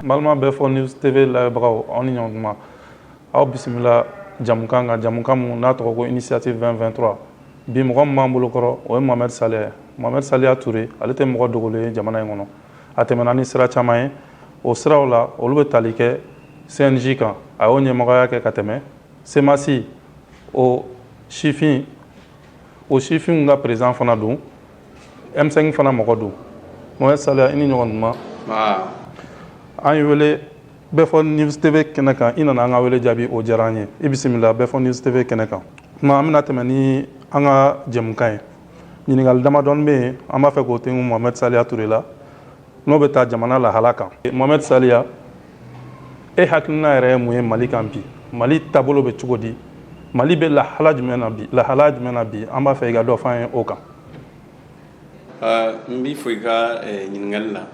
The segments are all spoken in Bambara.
balima bɛɛ fɔ news tv lajɛbagaw aw ni ɲɔgɔntuma aw bisimila jɛmukan kan jɛmukan mun n'a tɔgɔ ko initiative 223 bi mɔgɔ min b'an bolo kɔrɔ o ye mohamɛd saliya ye mohamɛd saliya ture ale tɛ mɔgɔ dogolen ye jamana in kɔnɔ a tɛmɛna ni sira caman ye o siraw la olu bɛ tali kɛ cnj kan a y'o ɲɛmɔgɔya kɛ ka tɛmɛ cmas o sifin o sifinw ka perezidan fana don m5 fana mɔgɔ don mohamɛd saliya i ni ɲɔgɔntuma an y'i wele bɛɛ fɔ news tv kɛnɛ kan i nana an ka wele jaabi o diyara an ye i bisimila bɛɛ fɔ news tv kɛnɛ kan tuma an bɛna tɛmɛ ni an ka jɛmukan ye ɲininkali damadɔ bɛ yen an b'a fɛ k'o ten mohamɛd saliya ture la n'o bɛ taa jamana lahala kan mohamɛd saliya e hakilina yɛrɛ ye mun ye mali kan bi mali taabolo bɛ cogo di mali bɛ lahala jumɛn na bi lahala jumɛn na bi an b'a fɛ i ka dɔ fɔ an ye o kan n b'i fo i ka eh, ɲininkali la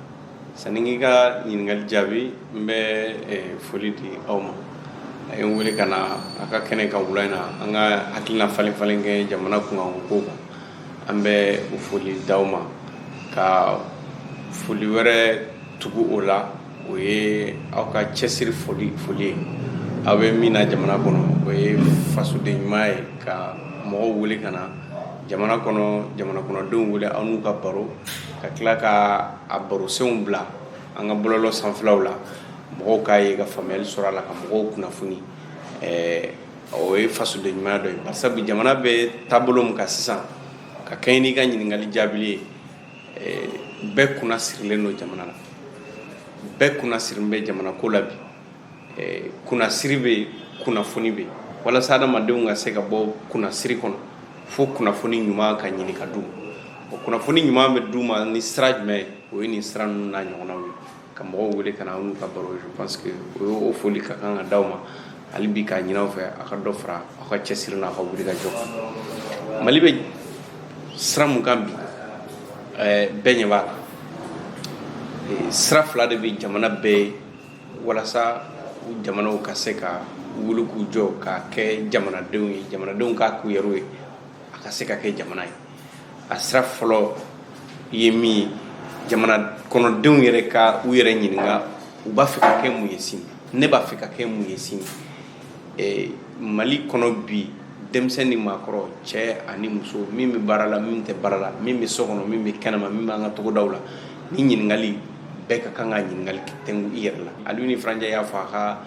sanni n k'i ka ɲininkali jaabi n bɛ eh, foli di aw ma a ye n wele ka na a ka kɛnɛ kan wula in na an ka hakilina falen falen kɛ jamana kunkankow kan an bɛ o foli d'aw ma ka foli wɛrɛ tugu o la o ye aw ka cɛsiri foli foli ye aw bɛ min na jamana kɔnɔ o ye fasoden ɲuman ye ka mɔgɔw wele ka na jamana kɔnɔ jamana kɔnɔdenw wele aw n'u ka baro ka tila ka a barosenw bila an ka bɔlɔlɔ sanfɛlaw la mɔgɔw k'a ye ka faamuyali sɔrɔ a la ka mɔgɔw kunnafoni o ye fasoden ɲumanya dɔ ye bari sabu jamana bɛ taabolo min kan sisan ka kɛɲɛ n'i ka ɲininkali jaabili ye eh, bɛɛ kunna sirilen don jamana la bɛɛ kunna sirilen bɛ jamana ko la bi eh, kunnasiri bɛ yen kunnafoni bɛ yen walasa adamadenw ka se ka bɔ kunnasiri kɔnɔ fo kunnafoni ɲuman ka ɲini ka d'u ma o kunnafoni ɲuman bɛ d'u ma ni sira jumɛn ye o ye nin sira ninnu n'a ɲɔgɔnnaw ye ka mɔgɔw wele ka na aw n'u ka baro je pense que o y'o foli ka kan ka di aw ma hali bi k'a ɲin'aw fɛ a ka dɔ fara aw ka cɛsiri n'a ka wuli ka jɔ kan mali bɛ sira mun kan bi eh, bɛɛ ɲɛ b'a la eh, sira fila de bɛ jamana bɛɛ ye walasa jamanaw ka se ka wuli k'u jɔ ka kɛ jamanadenw ye jamanadenw ka k'u yɛrɛw ye a ka se ka kɛ jamana ye a sira fɔlɔ ye min ye jamana kɔnɔdenw yɛrɛ ka u yɛrɛ ɲininka u b'a fɛ ka kɛ mun ye sini ne b'a fɛ ka kɛ mun ye sini eh, mali kɔnɔ bi denmisɛn ni maakɔrɔ cɛ ani muso min bɛ baara la min tɛ baara la min bɛ so kɔnɔ min bɛ kɛnɛma min b'an ka togodaw la nin ɲininkali bɛɛ ka kan ka ɲininkali tɛngu i yɛrɛ la Alioune Ifra Ndiaye y'a fɔ a ka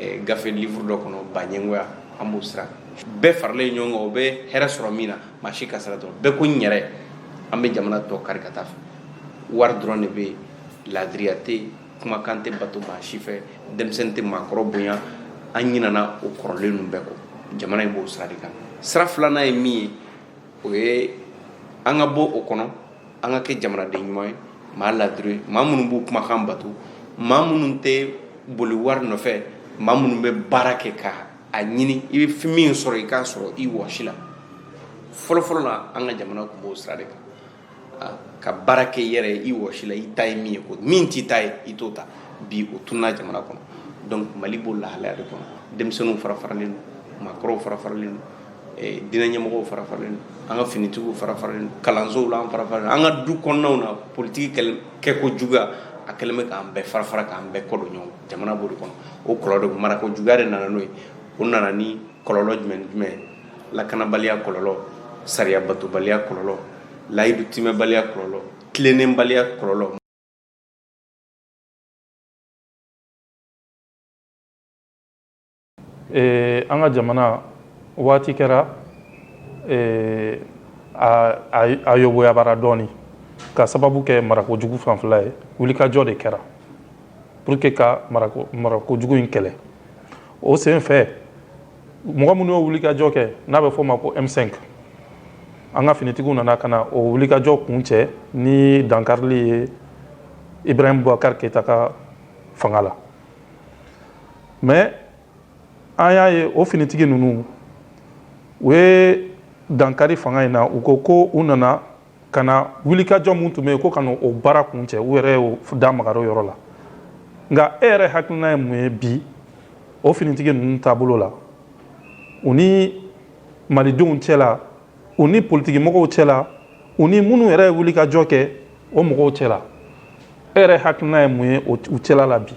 eh, gafe livre dɔ kɔnɔ baɲɛngoya an b'o sira bɛɛ faralen ɲɔgɔn kan o bɛ hɛrɛ sɔrɔ min na maa si ka sira dɔrɔn bɛɛ ko n yɛrɛ an bɛ jamana tɔ kari ka taa a fɛ wari dɔrɔn de bɛ yen laadiriya tɛ yen kumakan tɛ bato maa si fɛ denmisɛnnin tɛ maakɔrɔ bonya an ɲinana o kɔrɔlen ninnu bɛɛ kɔ jamana in b'o sira de kan sira filanan ye min ye o ye an ka bɔ o kɔnɔ an ka kɛ jamanaden ɲuman ye maa laadiri maa minnu b'u kumakan bato maa minnu tɛ boli wari nɔfɛ maa minnu bɛ baara kɛ ka a ɲini i bɛ min sɔrɔ i k'a sɔrɔ i wɔsi la fɔlɔfɔlɔ la an ka jamana tun b'o sira de kan ah, ka baara kɛ i yɛrɛ ye i wɔsi la i ta ye min ye min t'i ta ye i t'o ta bi o tununa jamana kɔnɔ donc mali b'o lahalaya de kɔnɔ denmisɛnninw fara faralen don maakɔrɔw fara faralen don eh, diinɛ ɲɛmɔgɔw fara faralen don an ka finitigiw fara faralen don kalansow la an fara faralen don an ka du kɔnɔnaw na politiki kɛko juguya a kɛlen bɛ k'an bɛɛ fara fara k'an bɛɛ kɔ don ɲɔgɔn na jamana b'o de kɔnɔ o kɔlɔlɔ de marako juguya de nana n'o ye o nana ni kɔlɔlɔ jumɛn jumɛn lakanabaliya kɔlɔlɔ sariya batobaliya kɔlɔlɔ layidu tiimɛbaliya kɔlɔlɔ tilennenbaliya kɔlɔlɔ an ka jamana waati kɛra a yoboyabara dɔɔnin ka sababu kɛ marakojugu fanfɛla ye wulikajɔ de kɛra pour que ka marakojugu in kɛlɛ o sen fɛ mɔgɔ minnu y'o wulikajɔ kɛ n'a bɛ fɔ o ma ko M5 an ka finitigiw nana ka na o wulikajɔ kuncɛ ni dankarili ye Ibrahim Boubacar Keita ka fanga la. mais an y'a ye o finitigi ninnu u ye dankari fanga in na u ko ko u nana ka na wulikajɔ min tun bɛ yen ko ka na o baara kuncɛ u yɛrɛ da magara o yɔrɔ la nka e yɛrɛ hakilina ye mun ye bi o finitigi ninnu taabolo la u ni malidenw cɛla u ni politikimɔgɔw cɛla u ni minnu yɛrɛ ye wulikajɔ kɛ o mɔgɔw cɛla e yɛrɛ hakilina ye mun ye u cɛla la bi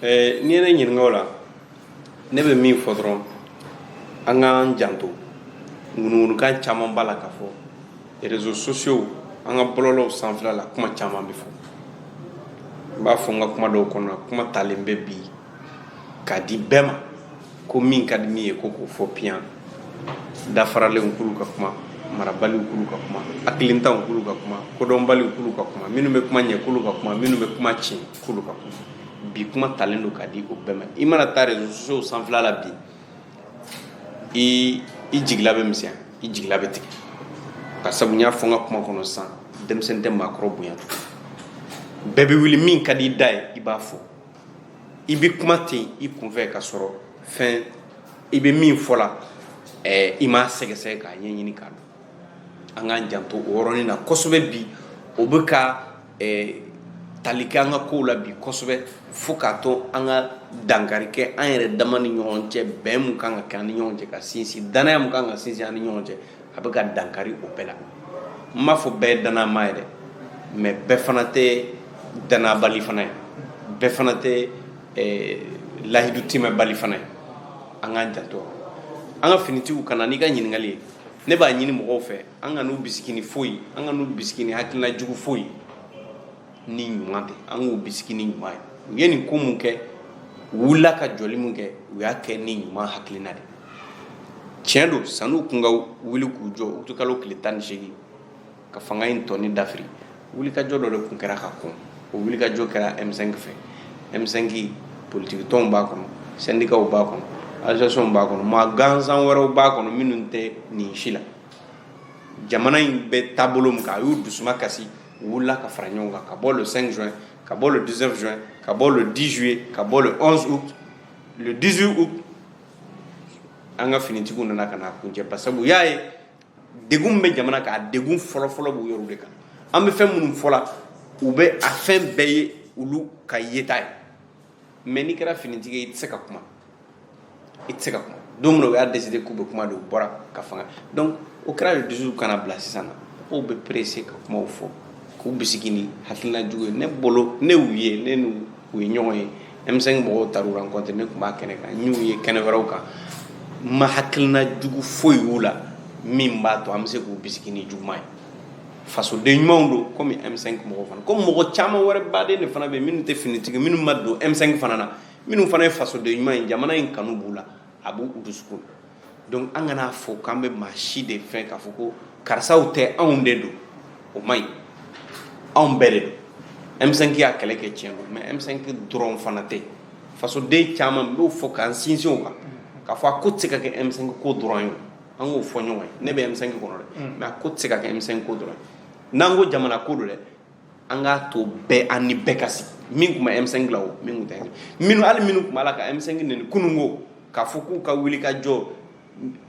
n'i ye ne ɲininka o la ne bɛ min fɔ dɔrɔn an k'an janto ŋunuŋunukan caman b'a la ka fɔ réseaux sociaux an ka bɔlɔlɔw sanfɛla la kuma caman bɛ fɔ n b'a fɔ n ka kuma dɔw kɔnɔ kuma talen bɛ bi k'a di bɛɛ ma ko min ka di min ye ko k'o fɔ piyan dafaralenw k'olu ka kuma marabaliw k'olu ka kuma hakilintanw k'olu ka kuma kodɔnbaliw k'olu ka kuma minnu bɛ kuma ɲɛ k'olu ka kuma minnu bɛ kuma tiɲɛ k'olu ka kuma bi kuma talen don ka di o bɛɛ ma i mana taa réseaux sociaux sanfɛla la bi i i jigila bɛ misɛnya i jigila bɛ tigɛ ka sabu n y'a fɔ n ka kuma kɔnɔ sisan denmisɛnnin tɛ maakɔrɔ bonya bɛɛ bɛ wuli min ka di i da ye i b'a fɔ i bɛ kuma ten i kunfɛ ka sɔrɔ fɛn i bɛ min fɔ la eh, i m'a sɛgɛsɛgɛ k'a ɲɛɲini k'a dɔn an k'an janto o yɔrɔnin na kosɛbɛ bi o bɛ ka eh, tali kɛ an ka kow la bi kosɛbɛ fo k'a to an ka dankari kɛ an yɛrɛ dama ni ɲɔgɔn cɛ bɛn mun kan ka kɛ an ni ɲɔgɔn cɛ ka sinsin danaya mun kan ka sinsin an ni ɲɔgɔn cɛ a bɛ ka dankari o bɛɛ la n m'a fɔ bɛɛ ye danama ye dɛ mais bɛɛ fana tɛ danabali fana ye bɛɛ fana tɛ eh, lahidu timɛbali fana ye an k'an janto an ka finitigiw ka na n'i ka ɲininkali ye ne b'a ɲini mɔgɔw fɛ an kan'u bisigi ni foyi an kan'u bisigi ni hakilina jugu foyi ni ɲuman tɛ an k'u bisigi ni ɲuman ye u ye nin ko mun kɛ u wulila ka jɔli mun kɛ u y'a kɛ ni ɲuman hakilina de tiɲɛ don san'u kun ka wuli k'u jɔ utikalo tile tan ni seegin ka fanga in tɔni dafiri wulikajɔ dɔ de kun kɛra ka kɔn o wulikajɔ kɛra M5 fɛ M5 politiki tɔnw b'a kɔnɔ sɛndikaw b'a kɔnɔ associationw b'a kɔnɔ maa gansan wɛrɛw b'a kɔnɔ minnu tɛ nin si la jamana in bɛ taabolo min kan a y'u dusuma kasi wulila ka fara ɲɔgɔn kan ka bɔ le 5 juin ka bɔ le 19 juin ka bɔ le 10 juillet ka bɔ le 11 août le 18 août an ka finitigiw nana ka n'a kuncɛ basabu u y'a ye degun bɛ jamana kan a degun fɔlɔfɔlɔ b'u yɛrɛ de kan an bɛ fɛn minnu fɔla u bɛ a fɛn bɛɛ ye olu ka yeta ye mais n'i kɛra finitigi ye i tɛ se ka kuma i tɛ se ka kuma don min na u y'a décider k'u bɛ kuma de u bɔra ka fanga donc o kɛra le 18 ka na bila sisan na mɔgɔw bɛ pressé ka kumaw fɔ k'u bisigi ni hakilina jugu ye ne bolo ne y'u ye ne n'u ye ɲɔgɔn ye M5 mɔgɔw taar'u rencontre ne tun b'a kɛnɛ kan n y'u ye kɛnɛ wɛrɛw kan n ma hakilina jugu foyi y'u la min b'a to an bɛ se k'u bisigi ni juguman ye fasoden ɲumanw don komi M5 mɔgɔw fana ko mɔgɔ caman wɛrɛ baden de fana bɛ minnu tɛ finitigi minnu ma don M5 fana na minnu fana ye fasoden ɲuman ye jamana in kanu b'u la a b'u dusukun donc an kan'a fɔ k'an bɛ maa si de fɛn k'a fɔ ko karisaw tɛ anw de don o man ɲi anw bɛɛ de don M5 y'a kɛlɛ kɛ tiɲɛ don mais M5 dɔrɔn fana tɛ fasoden caman n b'o fɔ k'an sinsin o kan k'a fɔ a ko tɛ se ka kɛ M5 ko dɔrɔn ye an k'o fɔ ɲɔgɔn ye ne bɛ M5 kɔnɔ dɛ mm. mais a ko tɛ se ka kɛ M5 ko dɔrɔn ye n'an ko jamana ko don dɛ an k'a to bɛɛ an ni bɛɛ ka sigi min tun bɛ M5 la o min tun tɛ minnu hali minnu tun b'a la ka M5 neni kununko k'a fɔ k'u ka wuli ka jɔ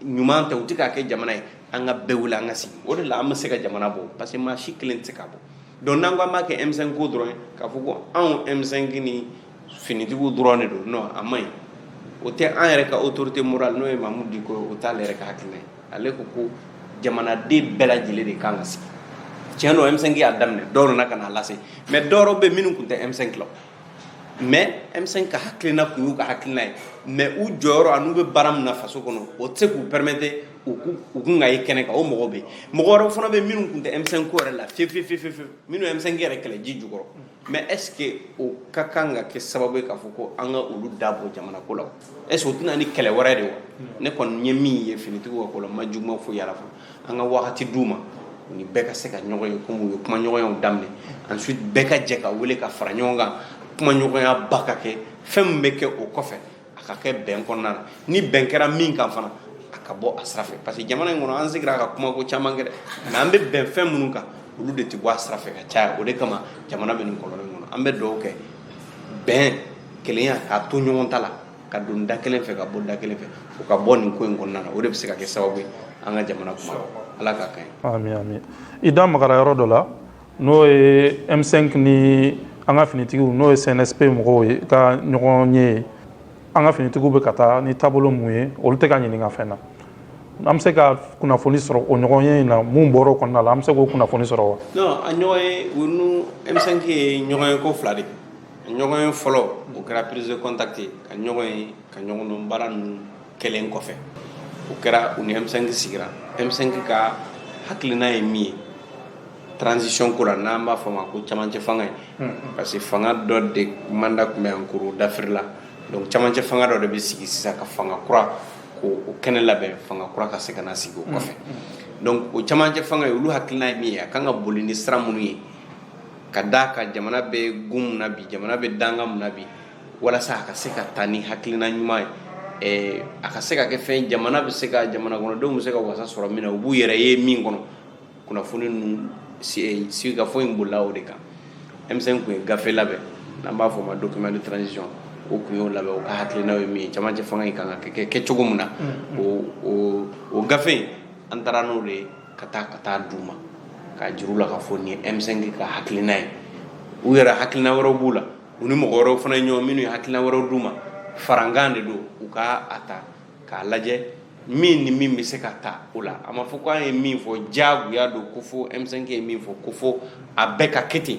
ɲuman tɛ u tɛ k'a kɛ jamana ye an ka bɛɛ wuli an ka sigi o de la an bɛ se ka jamana bɔ parce que maa si kelen tɛ se k'a bɔ donc n'an ko an b'a kɛ M5 ko dɔrɔn ye k'a fɔ ko anw M5 ni finitigiw dɔrɔn de don non a man ɲi o tɛ an yɛrɛ ka autorité morale n'o ye Mamu Diko ye o t'ale yɛrɛ ka hakilina ye ale ko ko jamanaden bɛɛ lajɛlen de kan ka sigi tiɲɛ don M5 y'a daminɛ dɔw nana ka n'a lase mais dɔ wɛrɛw bɛ yen minnu tun tɛ M5 la mais M5 ka hakilina tun y'u ka hakilina ye mais u jɔyɔrɔ an'u bɛ baara min na faso kɔnɔ o tɛ se k'u permettre u kun ka ye kɛnɛ kan o mɔgɔw bɛ yen mɔgɔ wɛrɛw fana bɛ yen minnu tun tɛ M5 ko yɛrɛ la fiyewu fiyewu fiyewu minnu ye M5 yɛrɛ kɛlɛ ji jukɔrɔ mais est ce que o ka kan ka kɛ sababu ye k'a fɔ ko an ka olu da bɔ jamana ko la est ce que o tɛ na ni kɛlɛ wɛrɛ de wa ne kɔni ye min ye finitigiw ka ko la n ma juguman foyi y'a la fɔlɔ an ka wagati d'u ma u ni bɛɛ ka se ka ɲɔgɔn ye kɔmi u ye kumaɲɔgɔnyaw daminɛ ensuite bɛɛ ka jɛ ka weele ka fara ɲɔgɔn kan kumaɲɔgɔnya ba ka kɛ fɛn min bɛ kɛ o kɔfɛ a ka kɛ bɛn kɔnɔna na ni bɛn kɛra min kan fana a ka bɔ a sira fɛ parce que jamana in kɔnɔ an sigira ka kuma ko caman kɛ dɛ mais an bɛ bɛn fɛn minnu kan olu de tɛ bɔ a sira fɛ ka caya o de kama jamana bɛ nin kɔlɔlɔ in kɔnɔ an bɛ dugawu kɛ bɛn kelenya k'a to ɲɔgɔn ta la ka don da kelen fɛ ka bɔ da kelen fɛ o ka bɔ nin ko in kɔnɔna na o de bɛ se ka kɛ sababu ye an ka jamana kuma ala k'a ka ɲi. ami ami i da magara yɔrɔ dɔ la n'o ye M5 ni an ka finitigiw n'o ye CNSP mɔgɔw ye ka ɲɔgɔn ye an ka finitigiw bɛ ka taa ni taabolo mun ye olu tɛ ka ɲininka fɛn na an bɛ se ka kunnafoni sɔrɔ o ɲɔgɔn ye in na mun bɔra o kɔnɔna la an bɛ se k'o kunnafoni sɔrɔ wa non a ɲɔgɔn ye u ni M5 ye ɲɔgɔn ye ko fila de a ɲɔgɔn ye fɔlɔ o kɛra prise de contact ye ka ɲɔgɔn ye ka ɲɔgɔn dɔn baara ninnu kɛlen kɔfɛ o kɛra u ni M5 sigira M5 ka hakilina ye min ye transition ko la n'an b'a fɔ ma ko camancɛ fanga ye parce que fanga dɔ de mandat tun bɛ yan kurun dafirila donc camancɛ fanga dɔ de bɛ sigi sisan ka fanga kura ko o kɛnɛ labɛn fanga kura ka se ka na sigi o kɔfɛ donc o camancɛ fanga ye olu hakilina ye min ye a kan ka boli ni sira minnu ye k'a da kan jamana bɛ gun mun na bi jamana bɛ danga mun na bi walasa a ka se ka taa ni hakilina ɲuman ye eh, a ka se ka kɛ fɛn jamana bɛ se ka jamana kɔnɔdenw bɛ se ka wasa sɔrɔ min na u b'u yɛrɛ ye min kɔnɔ kunnafoni ninnu sigikafɔ in bolila o de kan M5 tun ye gafe labɛn n'an b'a fɔ o ma document de transition o tun y'o labɛn o ka hakilinaw ye min ye cɛmancɛ fanga in kan ka kɛ cogo min na o gafe in an taara n'o de ye ka taa ka taa d'u ma k'a jira u la k'a fɔ nin ye M5 ka hakilina ye u yɛrɛ hakilina wɛrɛw b'u la u ni mɔgɔ wɛrɛw fana ye ɲɔgɔn minnu ye hakilina wɛrɛw d'u ma farankan de don u ka a ta k'a lajɛ min ni min bɛ se ka ta o la a ma fɔ ko an ye min fɔ jagoya don ko fo M5 ye min fɔ ko fo a bɛɛ ka kɛ ten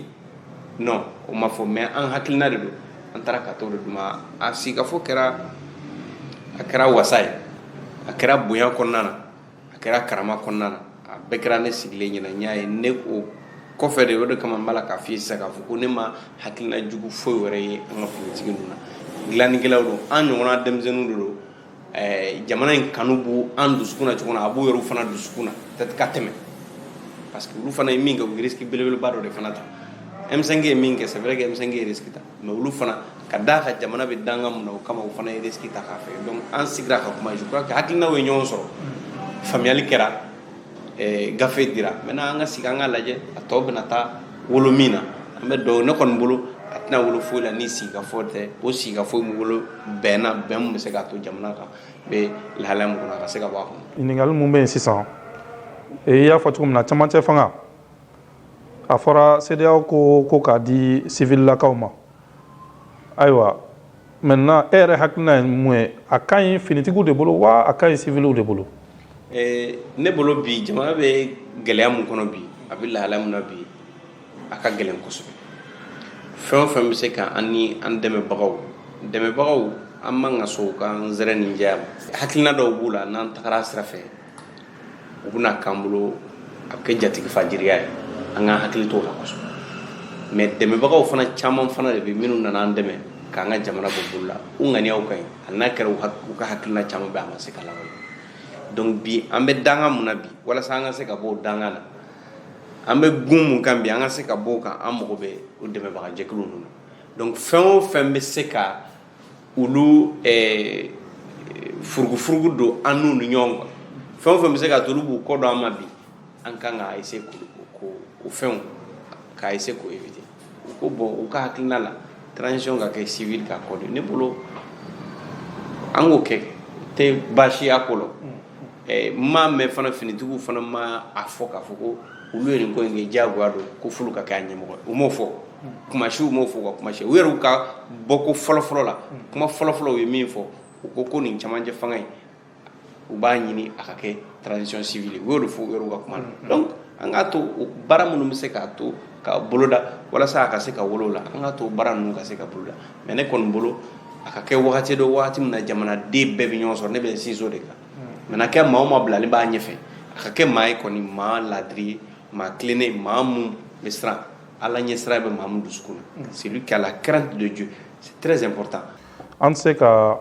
non o ma fɔ mais an hakilina de don an taara ka t'o de d'u ma a sigikafɔ kɛra a kɛra wasa ye a kɛra bonya kɔnɔna na a kɛra karama kɔnɔna na a bɛɛ kɛra ne sigilen ɲɛna n y'a ye ne o kɔfɛ de o de kama n b'a la k'a f'i ye sisan k'a fɔ ko ne ma hakilina jugu foyi wɛrɛ ye an ka finitigi ninnu na dilannikɛlaw don an ɲɔgɔnna denmisɛnninw de don eh, jamana in kanu b'u an dusukun na cogo min na a b'u yɛrɛw fana dusukun na peut-être ka tɛmɛ parce que olu fana ye min kɛ u ye risque belebeleba dɔ de fana ta M5 ye min kɛ c'est vrai que M5 ye risque ta mais olu fana ka d'a kan jamana bɛ danga mun na o kama u fana ye risque ta k'a fɛ donc an sigira ka kuma je crois que hakilinaw ye ɲɔgɔn sɔrɔ faamuyali kɛra gafe dira maintenant an ka sigi an ka lajɛ a tɔ bɛna taa wolo min na an b'a dɔn ne kɔni bolo a tɛna wolo foyi la ni sigikafɔ tɛ o sigikafɔ min wolo bɛnna bɛn mun bɛ se k'a to jamana kan bɛ lahalaya mun kɔnɔ a ka se ka bɔ a kɔnɔ ɲininkali mun bɛ yen sisan i y'a fɔ cogo min na camancɛ fanga a fɔra CEDEAO ko k'a di sivililakaw ma ayiwa maintenant e yɛrɛ hakilina ye mun ye a ka ɲi finitigiw de bolo wa a ka ɲi siviliw de bolo eh, ne bolo bi jamana bɛ gɛlɛya mun kɔnɔ bi a bɛ lahala mun na bi a ka gɛlɛn kosɛbɛ fɛn o fɛn bɛ se ka an ni an dɛmɛbagaw dɛmɛbagaw an man ka sɔn u ka nsɛrɛninjɛya ma hakilina dɔw b'u la n'an tagara sira fɛ u bɛna k'an bolo a bɛ kɛ jatigifajiriya ye an ka hakili t'o la kosɛbɛ mais dɛmɛbagaw fana caman fana de bɛ minnu nana an dɛmɛ k'an ka jamana bɔ bolo la u ŋaniyaw ka ɲi hali n'a kɛra u ka hakilina caman bɛ a ma se ka lawaleya donc bi an bɛ danga mun na bi walasa an ka se ka bɔ o danga na an bɛ gun mun kan bi an ka se ka bɔ o kan an mago bɛ o dɛmɛbagajɛkulu ninnu na donc fɛn o fɛn bɛ se ka olu furugufurugu don an n'u ni ɲɔgɔn kan fɛn o fɛn bɛ se ka to olu b'u kɔ don an ma bi an kan ka essayer ko o fɛnw ka essayer k'o éviter u ko bon u ka hakilina la transition ka kɛ sivili ka ko de ne bolo an k'o kɛ tɛ baasi y'a ko la n m'a mɛn fana finitigiw fana ma a fɔ k'a fɔ ko olu ye nin ko in kɛ diyagoya don ko f'olu ka kɛ a ɲɛmɔgɔ ye u m'o fɔ kuma si u m'o fɔ u ka kuma si u yɛrɛw ka bɔko fɔlɔfɔlɔ la kuma fɔlɔfɔlɔ u ye min fɔ u ko ko nin camancɛ fanga in u b'a ɲini a ka kɛ transition civile u y'o de fɔ u yɛrɛw ka kuma na mm-hmm. donc an k'a to o baara minnu bɛ se k'a to ka boloda walasa a ka se ka wolo la an k'a to baara ninnu ka se ka boloda mais ne kɔni bolo a ka kɛ wagati dɔ wagati min na jamanaden bɛɛ bɛ ɲɔgɔn sɔrɔ ne bɛ sinsin o de kan mm. mais n'a kɛ maa o maa bilalen b'a ɲɛfɛ a ka kɛ maa ye kɔni maa ladiri ye maa tilennen maa mun bɛ siran Ala ɲɛ sira bɛ mamu dusu kɔnɔ seli kɛlɛ kɛra don jo tze kɔrɔta an se ka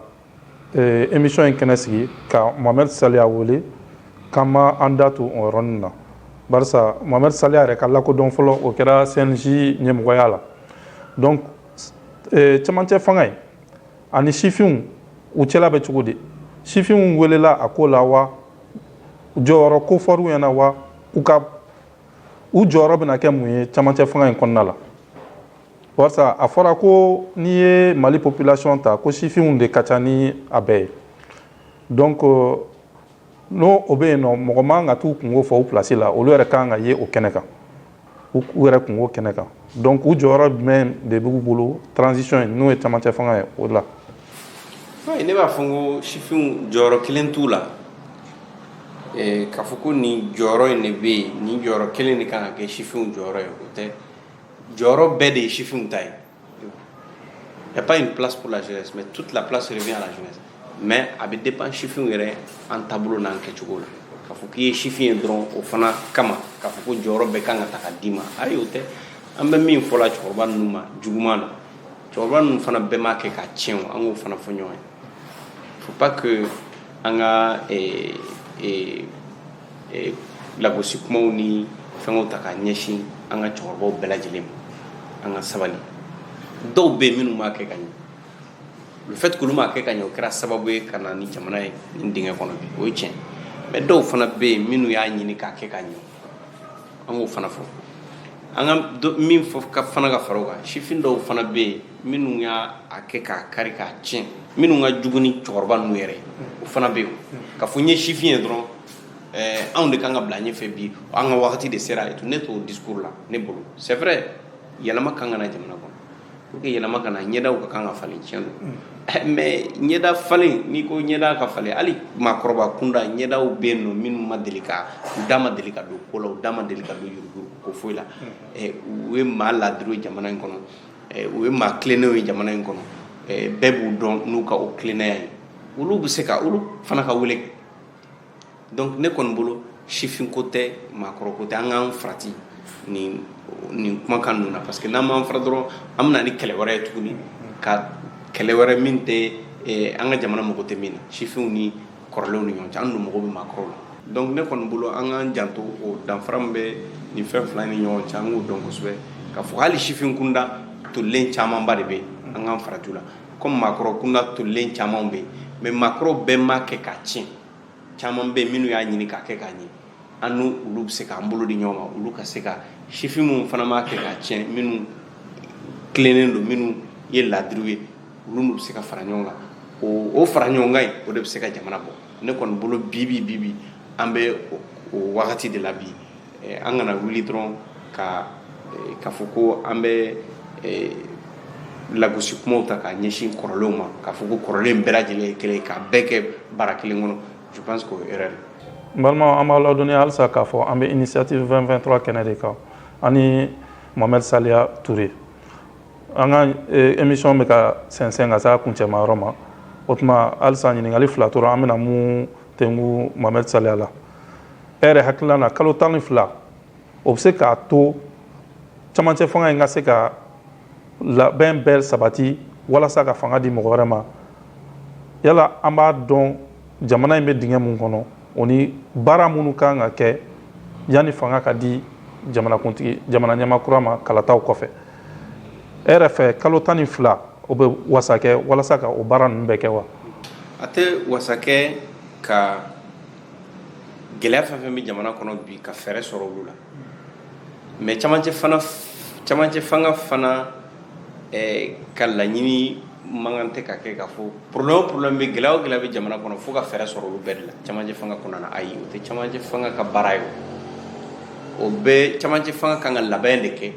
emi in kɛnɛ sigi ka mamari sa wele ka ma an da to oɔrɔnin na mamari sa yɛrɛ ka lakɔdɔn fɔlɔ o kɛra sinsi ɲɛmɔgɔya la cɛmancɛ fanga ye ani sifinw u cɛla bɛ cogo di sifinw welela a ko la wa jɔyɔrɔ ko fɔw ɲɛna na wa u ka u jɔyɔrɔ bɛna kɛ mun ye camancɛ fanga in kɔnɔna la barisa a fɔra ko n'i ye Mali population ta ko sifinw de ka ca ni a bɛɛ ye donc euh, n'o o bɛ yen nɔ mɔgɔ man ka t'u kunko fɔ u place la olu yɛrɛ kan ka ye o kɛnɛ kan u yɛrɛ kunko kɛnɛ kan donc u jɔyɔrɔ jumɛn de b'u bolo transition in n'o ye camancɛ fanga ye o la ne b'a fɔ n ko sifinw jɔyɔrɔ kelen t'u la eh, k'a fɔ ko nin jɔyɔrɔ in de bɛ yen nin jɔyɔrɔ kelen de kan ka kɛ sifinw jɔyɔrɔ ye o tɛ jɔyɔrɔ bɛɛ de ye sifinw ta ye Il n'y a pas une place pour la jeunesse, mais toute la place revient à la jeunesse. mais a bɛ dépend sifinw yɛrɛ an taabolo n'an kɛcogo la k'a fɔ k'i ye sifin ye dɔrɔn o fana kama k'a fɔ ko jɔyɔrɔ bɛɛ kan ka ta ka d'i ma ayi o tɛ an bɛ min fɔla cɛkɔrɔba ninnu ma juguman na cɛkɔrɔba ninnu fana bɛɛ m'a kɛ k'a tiɲɛ o an k'o fana fɔ ɲɔgɔn ye faut pas que an ka eh, eh, eh, lagosi kumaw ni fɛngɛw ta ka ɲɛsin an ka cɛkɔrɔbaw bɛɛ lajɛlen ma an ka sabali dɔw bɛ yen minnu m'a kɛ ka ɲɛ fait que olu m'a kɛ ka ɲɛ o kɛra sababu ye ka na ni jamana ye nin dingɛ kɔnɔ bi o ye tiɲɛ mais dɔw fana bɛ yen minnu y'a ɲini k'a kɛ ka ɲɛ an k'o fana fɔ an ka dɔ- min fɔ ka fana ka fara o kan sifin dɔw fana bɛ yen minnu y'a kɛ k'a kari k'a tiɲɛ minnu ka jugu ni cɛkɔrɔba ninnu yɛrɛ ye o fana bɛ yen k'a fɔ n ye sifin ye dɔrɔn ɛɛ anw de kan ka bila ɲɛfɛ bi an ka wagati de sera et tout ne t'o discours la ne bolo c'est vrai yɛlɛma kan ka na jamana kɔnɔ pour que yɛlɛma ka na ɲɛdaw ka kan ka falen tiɲɛ don mm. eh, mais ɲɛda falen n'i ko ɲɛda ka falen hali maakɔrɔba kunda ɲɛdaw bɛ yen nɔ minnu ma deli ka u da ma deli ka don ko la u da ma deli ka don yuruguyurugu ko foyi la mm. eh, u ye maa ladiriw ye jamana in kɔnɔ eh, u ye maa tilennenw ye jamana in kɔnɔ bɛɛ b'u dɔn n'u ka o tilennenya ye olu bɛ se ka olu fana ka wele donc ne kɔni bolo sifinko tɛ maakɔrɔko tɛ an k'an farati nin kumakan ninnu na parce que n'an m'an fara dɔrɔn an bɛna ni kɛlɛ wɛrɛ ye tuguni ka kɛlɛ wɛrɛ min tɛ eh, an ka jamana mago tɛ min na sifinw ni kɔrɔlenw ni ɲɔgɔn cɛ an dun mago bɛ maakɔrɔw la donc ne kɔni bolo an k'an janto o danfara min bɛ nin fɛn fila ni ɲɔgɔn cɛ an k'o dɔn kosɛbɛ k'a fɔ hali sifin kunda tolilen camanba de bɛ an k'an farati u la comme maakɔrɔ kunda tolilen caman bɛ yen mais maakɔrɔ bɛɛ m'a kɛ k'a tiɲɛ caman bɛ yen minnu y'a ɲini k'a kɛ k'a ɲɛ an ni olu bɛ se k'an bolo di ɲɔgɔn ma olu ka se ka sifin minnu fana m'a kɛ k'a tiɲɛ minnu tilennen don minnu ye laadiriw ye olu n'u bɛ se ka fara ɲɔgɔn kan o fara ɲɔgɔn kan in o de bɛ se ka jamana bɔ ne kɔni bolo bi bi bi bi an bɛ o wagati de la bi eh, an kana wuli dɔrɔn ka eh, k'a fɔ ko an bɛ eh, lagosi kumaw ta k'a ɲɛsin kɔrɔlenw ma k'a fɔ ko kɔrɔlen bɛɛ lajɛlen ye kelen k'a bɛɛ kɛ bara kelen kɔnɔ je pense que o ye erreur n balimaw an b'a ladɔnniya halisa k'a fɔ an bɛ initiative 2023 kɛnɛ de kan ani mohamed saliya ture an ka émission bɛ ka sɛnsɛn ka se a kuncɛma yɔrɔ ma o tuma halisa ɲininkali fila tora an bɛna minnu tengu mohamed saliya la e yɛrɛ hakilila na kalo tan ni fila o bɛ se k'a to camancɛ fanga in ka se ka labɛn bɛɛ sabati walasa ka fanga di mɔgɔ wɛrɛ ma yala an b'a dɔn jamana in bɛ dingɛ mun kɔnɔ o ni baara minnu kan ka kɛ yanni fanga ka di jamanakuntigi jamana ɲɛmaa kura ma kalataw kɔfɛ e yɛrɛ fɛ kalo tan ni fila o bɛ wasa kɛ walasa ka o baara ninnu bɛɛ kɛ wa a tɛ wasa kɛ ka gɛlɛya fɛn fɛn bɛ jamana kɔnɔ bi ka fɛɛrɛ sɔrɔ olu la mais camancɛ fana camancɛ fanga fana eh, ka laɲini man kan tɛ ka kɛ k'a fɔ problème o problème bɛ gɛlɛya o gɛlɛya bɛ jamana kɔnɔ fo ka fɛɛrɛ sɔrɔ olu bɛɛ de la camancɛ fanga kɔnɔna na ayi o tɛ camancɛ fanga ka baara ye o bɛɛ camancɛ fanga kan ka labɛn de kɛ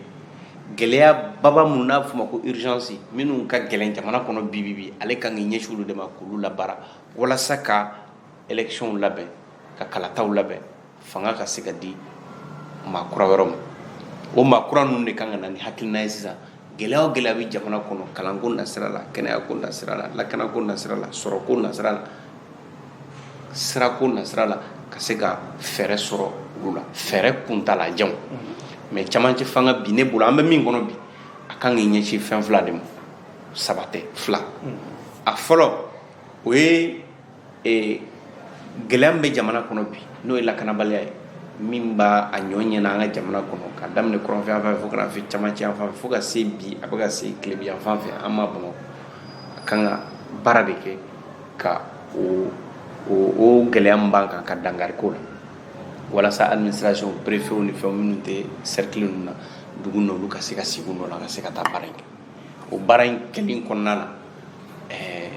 gɛlɛya baba minnu n'a bɛ f'o ma ko urgence minnu ka gɛlɛn jamana kɔnɔ bi bi bi ale kan k'i ɲɛsin olu de ma k'olu labaara walasa ka élection labɛn ka kalataw labɛn fanga ka se ka di maa kura wɛrɛw ma o maa kura ninnu de kan ka na ni hakilina ye sisan gɛlɛya o gɛlɛya bɛ jamana kɔnɔ kalanko nasira la kɛnɛyako nasira la lakanako nasira la sɔrɔko nasira la sirako nasira la ka se ka fɛɛrɛ sɔrɔ olu la fɛɛrɛ kuntaalajan mais camancɛ fanga bi ne bolo an bɛ min kɔnɔ bi a kan k'i ɲɛsin fɛn fila de ma saba tɛ fila a fɔlɔ o ye ee gɛlɛya min bɛ jamana kɔnɔ bi n'o ye lakanabaliya ye min b'a a ɲɔ ɲɛna an ka jamana kɔnɔ ka daminɛ kɔrɔnfɛ yan fan fɛ fo ka na se camancɛ yan fan fɛ fo ka se bi a bɛ ka se tilebi yan fan fɛ an ma bamakɔ a kan ka baara de kɛ ka o o o gɛlɛya min b'an kan ka dankari k'o la walasa administration préfet ni fɛnw minnu tɛ cercle ninnu na dugu n'olu ka se ka sigi u nɔ la ka se ka taa baara in kɛ o baara in kɛlen kɔnɔna na ɛɛ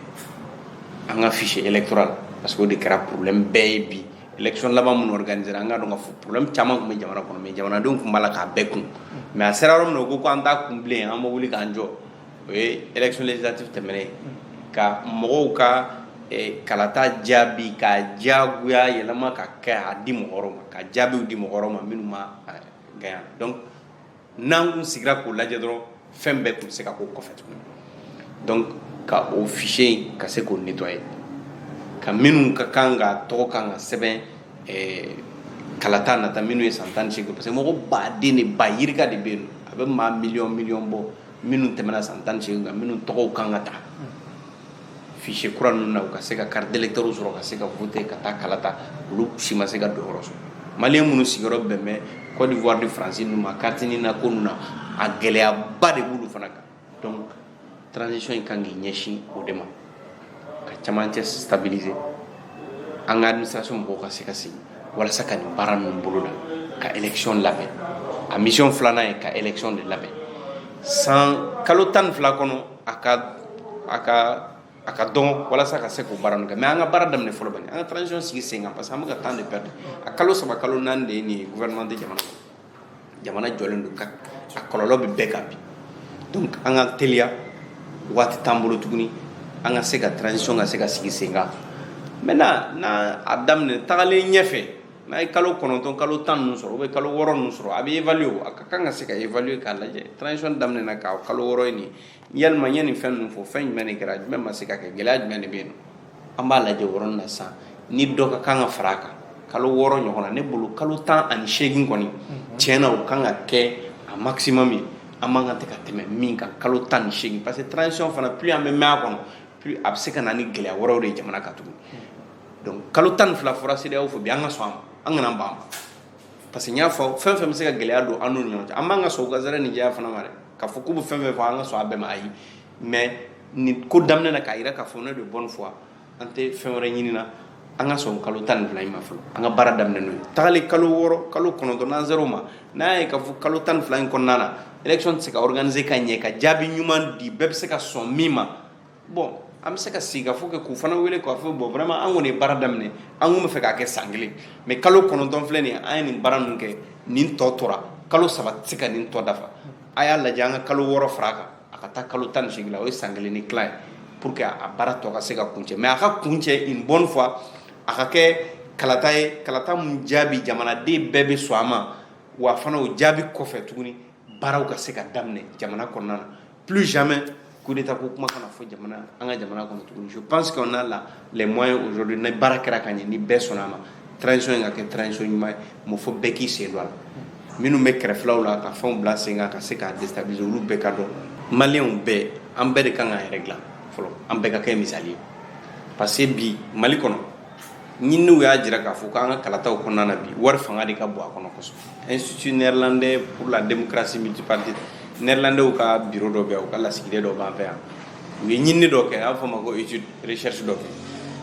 an ka fichier électoral parce que o de kɛra problème bɛɛ ye bi élection laban minnu organisera an ka dɔn ka fɔ problème caman tun bɛ jamana kɔnɔ mais jamanadenw tun b'a la k'a bɛɛ kun mais a sera yɔrɔ min na u ko ko an t'a kun bilen an bɛ wuli k'an jɔ o ye élection législative tɛmɛnen ye ka mɔgɔw ka eh, kalata jaabi ka diyagoya yɛlɛma ka kɛ a di mɔgɔ wɛrɛw ma ka jaabiw di mɔgɔ wɛrɛw ma minnu ma eh, gagner donc n'an kun sigira k'o lajɛ dɔrɔn fɛn bɛɛ tun bɛ se ka k'o kɔfɛ tuguni donc ka o fichier in ka se k'o nettoyer ka minnu ka kan ka tɔgɔ kan ka sɛbɛn eh, kalata nata minnu ye san tan ni seegin parce que mɔgɔ baden de ba yirika de bɛ yen a bɛ maa miliyɔn miliyɔn bɔ minnu tɛmɛna san tan ni seegin kan minnu tɔgɔw kan ka taa fichier kura ninnu na u ka se ka carte d'électeur sɔrɔ ka se ka voter ka taa kala ta olu si ma se ka donyɔrɔ sɔrɔ maliyɛn minnu sigiyɔrɔ bɛn bɛ Côte d'Ivoire ni France ninnu ma carte NINA ko ninnu na a gɛlɛyaba de b'olu fana kan donc transition in kan k'i ɲɛsin o de ma ka camancɛ stabiliser an ka administration mɔgɔw ka se ka sigi walasa ka nin baara ninnu boloda ka élection labɛn a mission filanan ye ka élection de labɛn san kalo tan ni fila kɔnɔ a ka a ka a ka dɔgɔ walasa ka se k'o baara ninnu kɛ mais an ka baara daminɛ fɔlɔ bani an ka transition sigi sen kan parce que an bɛ ka temps de perdre a kalo saba kalo naani de ye nin ye gouvernement tɛ jamana jamana jɔlen don a kɔlɔlɔ bɛ bɛɛ kan bi donc an ka teliya waati t'an bolo tuguni an ka se ka transition ka se ka sigi sen kan maintenant n'a a daminɛ tagalen ɲɛfɛ n'a ye kalo kɔnɔntɔn kalo tan ninnu sɔrɔ ou bien kalo wɔɔrɔ ninnu sɔrɔ a bɛ évaluer a ka kan ka se ka évaluer k'a lajɛ transition daminɛna k'a kalo wɔɔrɔ ye nin yalima n ye nin fɛn ninnu fɔ fɛn jumɛn de kɛra jumɛn ma se ka kɛ gɛlɛya jumɛn de bɛ yen an b'a lajɛ o yɔrɔnin na sisan ni dɔ ka kan ka fara a kan kalo wɔɔrɔ ɲɔgɔn na ne bolo kalo tan ani seegin kɔni tiɲɛ na o kan ka kɛ a maximum ye an man kan tɛ ka tɛmɛ min kan kalo tan ni seegin parce que transition fana plus an bɛ mɛn a kɔnɔ plus a bɛ se ka na ni gɛlɛya wɛrɛw de ye jamana kan tugun kalo tan ni fila fɔra CEDEAO fɛ bi an ka sɔn a ma an kana ban parce que n y'a fɔ fɛn fɛn bɛ se ka gɛlɛya don an ni ɲɔgɔn cɛ an b'an ka sɔn gansɛrɛ ni diya fana ma dɛ ka fɔ k'u bɛ fɛn fɛn fɔ an ka sɔn a bɛɛ ma ayi mais nin ko daminɛ na k'a jira k'a fɔ ne de bonne foi an tɛ fɛn wɛrɛ ɲini na an ka sɔn kalo tan ni fila in ma fɔlɔ an ka baara daminɛ n'o ye tagalen kalo wɔɔrɔ kalo kɔnɔntɔn n'an sera o ma n'a ye ka fɔ kalo tan ni fila in kɔnɔna na élection tɛ se ka organiser ka ɲɛ ka jaabi ɲuman di bɛɛ bɛ se ka sɔn min ma bon an bɛ se ka sigikafɔ kɛ k'u fana wele k'a fɔ bon vraiment an kɔni ye baara daminɛ an tun b'a fɛ k'a kɛ san kelen mais kalo kɔnɔntɔn filɛ nin ye an ye nin baara ninnu kɛ nin tɔ tora kalo saba tɛ se ka nin tɔ dafa a y'a lajɛ an ka kalo wɔɔrɔ fara a kan a ka taa kalo tan ni seegin la o ye san kelen ni tila ye pour que a baara tɔ ka se ka kuncɛ mais a ka kuncɛ une bonne fois a ka kɛ kalata ye kalata min jaabi jamanaden bɛɛ bɛ sɔn a ma wa fana o jaabi kɔfɛ tuguni baaraw ka se ka daminɛ jamana kɔnɔna na plus jamais coup d'état ko kuma kana fɔ jamana an ka jamana kɔnɔ tuguni je pense qu'on a la les moyens aujourd'hui ni baara kɛra ka ɲɛ ni bɛɛ sɔnna a ma transition in ka kɛ transition ɲuman ye mɔ fo bɛɛ k'i sen don a la minnu bɛ kɛrɛfɛlaw la ka fɛnw bila sen kan ka se k'a déstabiliser olu bɛɛ ka dɔn maliyɛnw bɛɛ an bɛɛ de kan k'an yɛrɛ dilan fɔlɔ an bɛɛ ka kɛ misali ye parce que bi mali kɔnɔ ɲininiw y'a jira k'a fɔ k'an ka kalataw kɔnɔna na bi wari fanga de ka bon a kɔnɔ kosɛbɛ institut néerlandais pour la démocratie multipartite néerlandais ka biro dɔ bɛ yan u ka lasigiden dɔ b'an fɛ yan u ye ɲinini dɔ kɛ a b'a fɔ ma ko étude recherche dɔ kɛ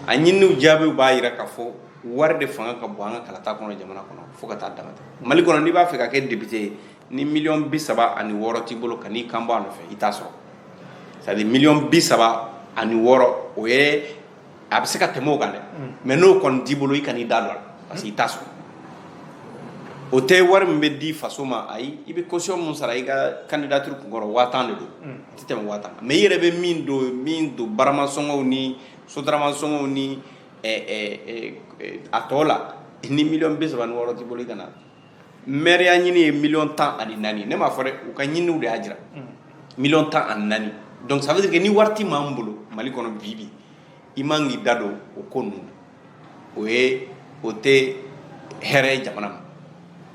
a ɲininiw jaabiw b'a jira k'a fɔ wari de fanga ka bon an ka kalata kɔnɔ jamana kɔnɔ fo ka taa dama tɛmɛ mali kɔnɔ n'i b'a fɛ ka kɛ député ye ni miliyɔn bi saba ani wɔɔrɔ t'i bolo kan'i kan bɔ a nɔfɛ i t'a sɔrɔ c'est à dire miliyɔn bi saba ani wɔɔrɔ o ye a bɛ se ka tɛmɛ o kan dɛ mais n'o kɔni t'i bolo i kan'i da don a la parce que i t'a sɔrɔ o tɛ wari min bɛ di faso ma ayi i bɛ caution min sara i ka candidature kun kɔrɔ waa tan de don a tɛ tɛmɛ waa tan kan mais i yɛrɛ bɛ min min don baramasɔngɔw ni sotaramasɔngɔw ni a tɔ la ni miliyɔn bi saba ni wɔɔrɔ t'i bolo i kana mɛriya ɲini ye miliyɔn tan ani naani ne m'a fɔ dɛ u ka ɲiniw de y'a jira miliyɔn tan ani naani donc ça veut dire que ni wari tɛ maa min bolo mali kɔnɔ bi bi i man k'i da don o ko ninnu o ye o tɛ hɛrɛ ye jamana ma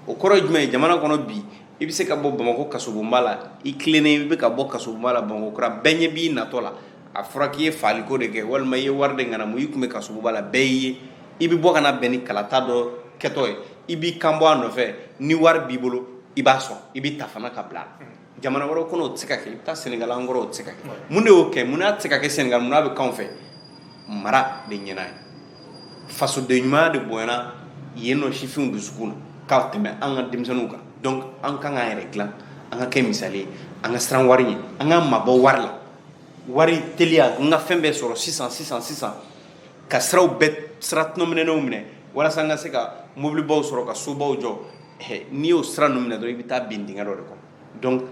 o kɔrɔ ye jumɛn ye jamana kɔnɔ bi i bɛ se ka bɔ bamakɔ kasobonba la i tilennen i bɛ ka bɔ kasobonba la bamakɔ kura bɛɛ ɲɛ b'i natɔ la a fɔra k'i ye faaliko de kɛ walima i ye wari de ŋanamu i tun bɛ kasobonba la bɛɛ y'i ye i bɛ bɔ ka na bɛn ni kalata dɔ kɛtɔ ye i b'i kan bɔ a nɔfɛ ni wari b'i bolo i b'a sɔrɔ i bɛ ta fana ka bila jamana wɛrɛ kɔnɔ o tɛ se ka kɛ i bɛ taa sɛnɛgali an kɔrɔ o tɛ se ka kɛ mun de y'o kɛ mun n'a tɛ se ka kɛ sɛnɛgali mun n'a bɛ k'anw fɛ mara de ɲɛna yen fasoden ɲumanya de bonyana yen nɔ sifinw dusukun na ka tɛmɛ an ka denmisɛnninw kan donc an kan k'an yɛrɛ dilan an ka kɛ misali ye an ka siran wari ɲɛ an ka mabɔ wari la wari teliya n ka fɛn bɛɛ sɔrɔ sisan sisan sisan ka siraw bɛɛ sira tɔnɔminenw minɛ walasa n ka se ka mobilibaw sɔrɔ ka sobaw jɔ n'i y'o sira ninnu minɛ dɔrɔn i bɛ taa bin dingɛ dɔ de kɔnɔ donc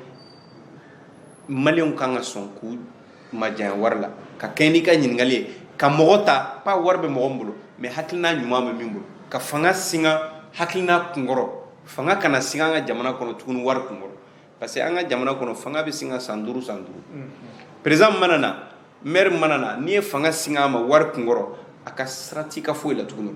maliyɛnw kan ka sɔn k'u majanya wari la ka kɛɲɛ n'i ka ɲininkali ye ka mɔgɔ ta pas wari bɛ mɔgɔ min bolo mais hakilina ɲuman bɛ min bolo ka fanga singa hakilina kunkɔrɔ fanga kana singa an ka jamana kɔnɔ tuguni wari kunkɔrɔ parce que an ka jamana kɔnɔ fanga bɛ singa san duuru san duuru président mana na mɛri mana na n'i ye fanga singa a ma wari kunkɔrɔ a ka sira t'i ka foyi la tuguni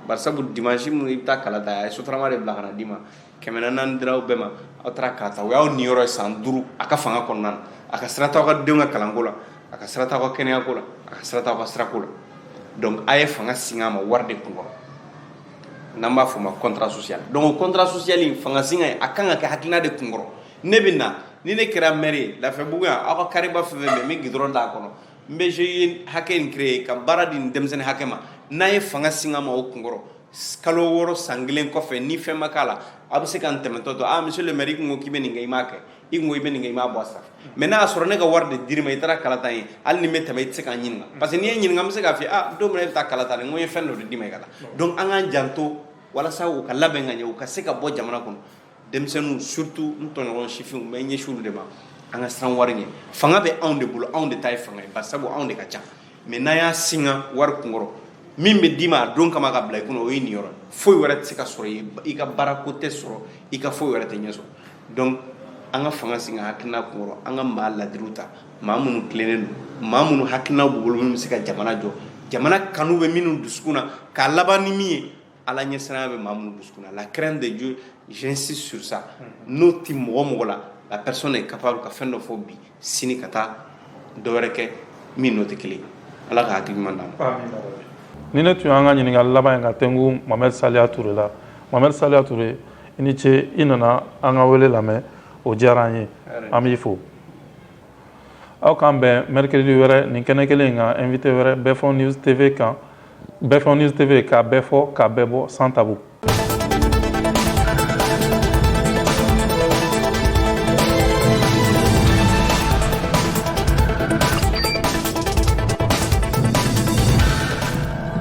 barisabu dimansi min i bɛ taa kala ta a ye sotarama de bila ka na d'i ma kɛmɛ naani dir'aw bɛɛ ma aw taara kala ta o y'aw niyɔrɔ ye san duuru a ka fanga kɔnɔna na a ka sira t'aw ka denw ka kalanko la a ka sira t'aw ka kɛnɛyako la a ka sira t'aw ka sirako la donc a ye fanga singa a ma wari de kunkɔrɔ n'an b'a fɔ ma contrat social donc o contrat social in fanga singa ye a kan ka kɛ hakilina de kunkɔrɔ ne bɛ na ni ne kɛra maire ye lafiyabugu yan aw ka carréba fɛn fɛn bɛ n bɛ goudron d'a kɔnɔ n bɛ GIE hakɛ in créer ka baara di nin denmisɛnnin hakɛ ma n'a ye fanga singa ma o kunkɔrɔ kalo wɔɔrɔ san kelen kɔfɛ ni fɛn ma k'a la aw bɛ se ka n tɛmɛtɔ to aa monsieur le maire i kun ko k'i bɛ nin kɛ i m'a kɛ i ko i bɛ nin kɛ i m'a bɔ a sira fɛ mais n'a y'a sɔrɔ ne ka wari de dir'i ma i taara kalata ye hali ni n bɛ tɛmɛ i tɛ se ka n ɲininka mm. parce que n'i ye n ɲininka n bɛ se k'a f'i ye ah don min na i bɛ taa kalata de n ko n ye fɛn dɔ de d'i ma i ka taa mm. donc an k'an janto walasa u ka labɛn ka ɲɛ u ka se ka bɔ jamana kɔnɔ denmisɛnninw surtout n tɔɲɔgɔn sifinw n bɛ n ɲɛsin olu de ma an ka siran wari ɲɛ fanga bɛ anw de bolo anw de ta ye fanga ye bari sabu anw de ka ca mais n'an y'a singa wari kunkɔrɔ min bɛ d'i ma a don kama ka bila i kunna o ye nin yɔrɔ foyi wɛrɛ tɛ se ka sɔrɔ i ka baarako tɛ sɔrɔ i ka foyi wɛrɛ tɛ ɲɛ sɔrɔ donc an ka fanga singa hakilina kunkɔrɔ an ka maa ladiriw ta maa minnu tilennen don maa minnu hakilina b'u bolo minnu bɛ se ka jamana jɔ jamana kanu bɛ minnu dusukun na k'a laban ni min ye ala ɲɛsiranya bɛ maa minnu dusukun na la crainte de dieu j'insiste sur ça n'o tɛ mɔgɔ mɔgɔ la la personne est capable ka fɛn dɔ fɔ bi sini ka taa dɔ wɛrɛ kɛ min n'o tɛ kelen ye ala ka hakili ɲuman d'an ma nin de tun y'an ka ɲininkali laban ye ka tɛnku mohamed saliya ture la mohamed saliya ture i ni ce i nana an ka wele lamɛn o diyara an ye an b'i fo aw k'an bɛn mercredi wɛrɛ nin kɛnɛ kelen in kan invité wɛrɛ bɛɛfɔ news tv kan bɛɛfɔ news tv k'a bɛɛ fɔ k'a bɛɛ bɔ sans tabou